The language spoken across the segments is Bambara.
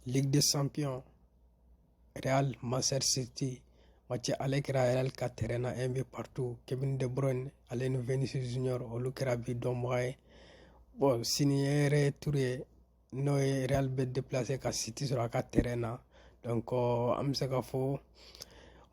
Ligue des Champions Real Manchester City match aller kɛra Real ka terrain na un but partout Kevin De Bruyne ale ni Vinicius Junior olu kɛra bi donbaga ye bon sini ye retour ye n'o ye Real bɛ déplacer ka City sɔrɔ a ka terrain na donc an bɛ se ka fɔ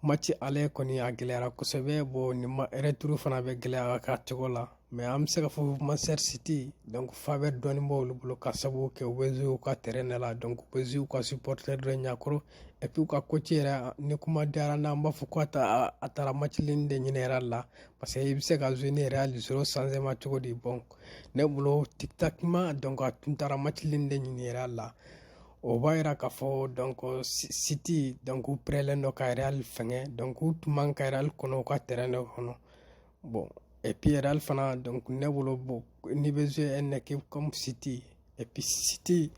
Mati ale kɔni a gɛlɛyara kosɛbɛ bɔ ni ma turu fana bɛ gɛlɛya ka cogo la mɛ an bɛ se ka fɔ masasiti fa bɛ dɔnniibɔ olu bolo ka sababu kɛ wzw ka t ne la dɔn wzw ka si pɔte dɔ ɲɛkɔrɔ ɛp'u ka ko ci yɛrɛ ni kuma diyara n an b'a fɔ ko taa a taara mati de ɲɛna la parce que i bɛ se ka z ne yɛrɛ ali s sanma cogo de bɔ ne bolo tita dɔn a tun taara mati de ɲinin la o b'a yira k'a fɔ dɔnko siti dɔnku pɛrɛnlɛn dɔ ka yɛrɛ fɛngɛ dɔnku tun man ka yɛrɛ kɔnɔ ka tɛrɛn dɔ kɔnɔ bɔn epi yɛrɛ fana dɔnku ne bolo bɔ ni bɛ zo ɛ nɛke kɔmi siti epi siti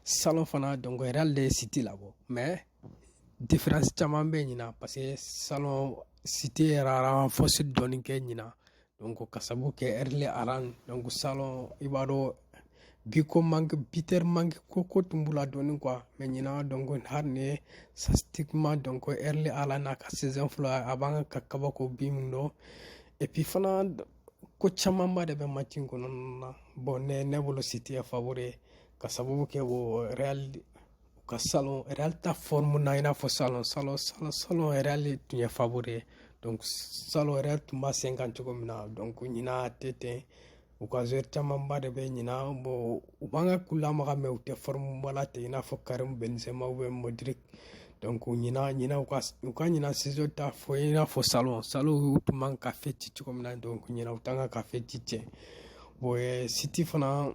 salon fana dɔnku yɛrɛ de ye siti labɔ mɛ diferansi caman bɛ ɲina parce que salon siti yɛrɛ fɔsi dɔɔni kɛ ɲina donc ka sabu kɛ Erling Haaland donc salon i b'a dɔn bi ko manque buteur manque ko ko tun b'u la dɔɔni quoi mais ɲina donc hali ni statistiquement donc Erling Haaland n'a ka saison fɔlɔ a b'an ka kabako bi min don et puis fana ko camanba de bɛ match in kɔnɔna na bon ne ne bolo City ye favori ka sababu kɛ o Real u ka salon Real t'a forme na i n'a fɔ salon salon salon salon Real tun ye favori ye donc salon Real tun b'a sen kan cogo min na donc ɲina a tɛ ten u ka joueur camanba de bɛ ɲina bon u b'an ka k'u lamaga mais u tɛ formeba la ten i n'a fɔ Karim Benzema ou bien Modric donc ɲina ɲina u ka u ka ɲina saison t'a fɔ i n'a fɔ salon salon u tun man ka fɛn ci cogo min na donc ɲina u t'an ka ka fɛn ci ten bon City fana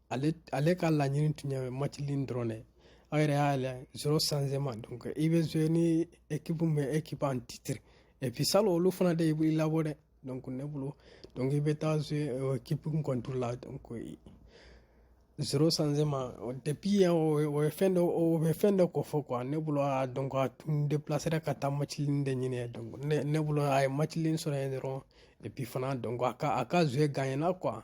ale ale ka laɲini tun ye match nul dɔrɔn de aw yɛrɛ y'a lajɛ zéro changement donc i bɛ jouer ni équipe min bɛ équipe en titre et puis salon olu fana de y'i labɔ dɛ donc ne bolo donc i bɛ taa jouer équipe contre la donc zéro changement depuis yan o ye fɛn dɔ o bɛ fɛn dɔ kofɔ quoi ne bolo a donc a tun déplacera ka taa match nul de ɲini donc ne ne bolo a ye match nul sɔrɔ yen dɔrɔn et puis fana donc a ka a ka jouer gagnéna quoi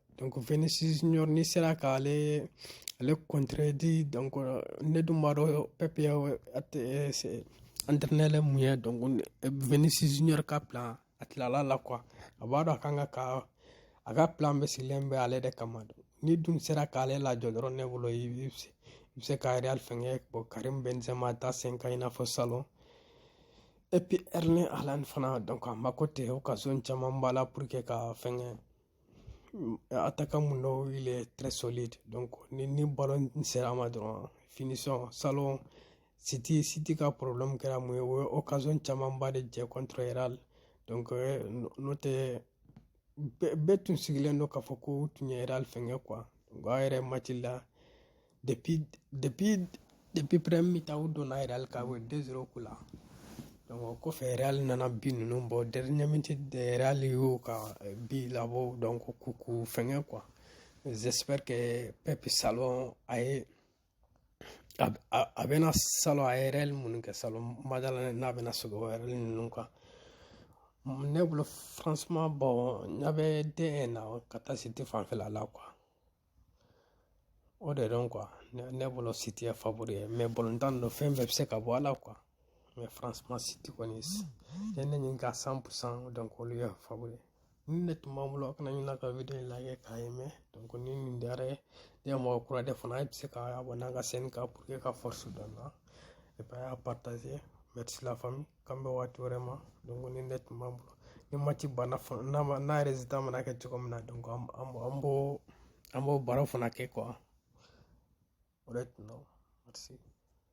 donc Vinicius Junior n'i sera k'ale ale contredit donc ne dun b'a dɔn Pep ye entraîneur min ye donc Vinicius Junior ka plan a tilala la quoi a b'a dɔn a kan ka ka a ka plan bɛ sigilen bɛ ale de kama n'i dun sera k'ale lajɔ dɔrɔn ne bolo i bɛ se ka Real fɛngɛ bon Karim Benzema t'a sen kan i n'a fɔ salon et puis Erling Haaland fana donc a mako tɛ occasion camanba la pour que ka fɛngɛ a ta ka mun dɔw wele tɛrɛsɔliti ni ni balo in sera a ma dɔrɔn fini sɔn salon siti siti ka porobilɛmu kɛra mun ye o ye okazɔn camanba de jɛ kɔntɛrɛra n'o tɛ bɛɛ tun sigilen don k'a fɔ ko u tun ye fɛngɛ kuwa a yɛrɛ mati la depuis depuis depuis premier mi-temps u donna Real kan u ye deux zéro k'u la o kɔfɛ Real nana bi ninnu bɔ dernière minute de Real y'o ka bi labɔ donc k'u k'u fɛngɛ quoi j'espère que Pep salon a ye a a a bɛna salon a ye erreur minnu kɛ salon madala n'a bɛna sigi o erreur ninnu kan ne bolo franchement bon ɲa bɛ den na ka taa City fanfɛla la quoi O de dɔn qu ne bolo si tɛ fa ye mɛ bɔntan don fɛn bɛɛ bɛ se ka bɔ ala qu mɛ fararansi siti kɔni ye ne nin ka san san dɔn ye fa ye ni ne tun b'an bolo a kana ɲin ka wuli la k'a ye mɛ dɔn ni nin diyara ye ne mɔgɔ kura de fana e bɛ se ka bɔ n'an ka sen ka pur que ka fɔsi dɔn na e y'a pata mɛ tɛ faamumu k'an bɛn waati wɛrɛ ma donc nin de tun b'an bolo ni match banna n'a ma n'a résultat mana kɛ cogo min na donc an b'o an b'o baro fana kɛ quoi o de tun don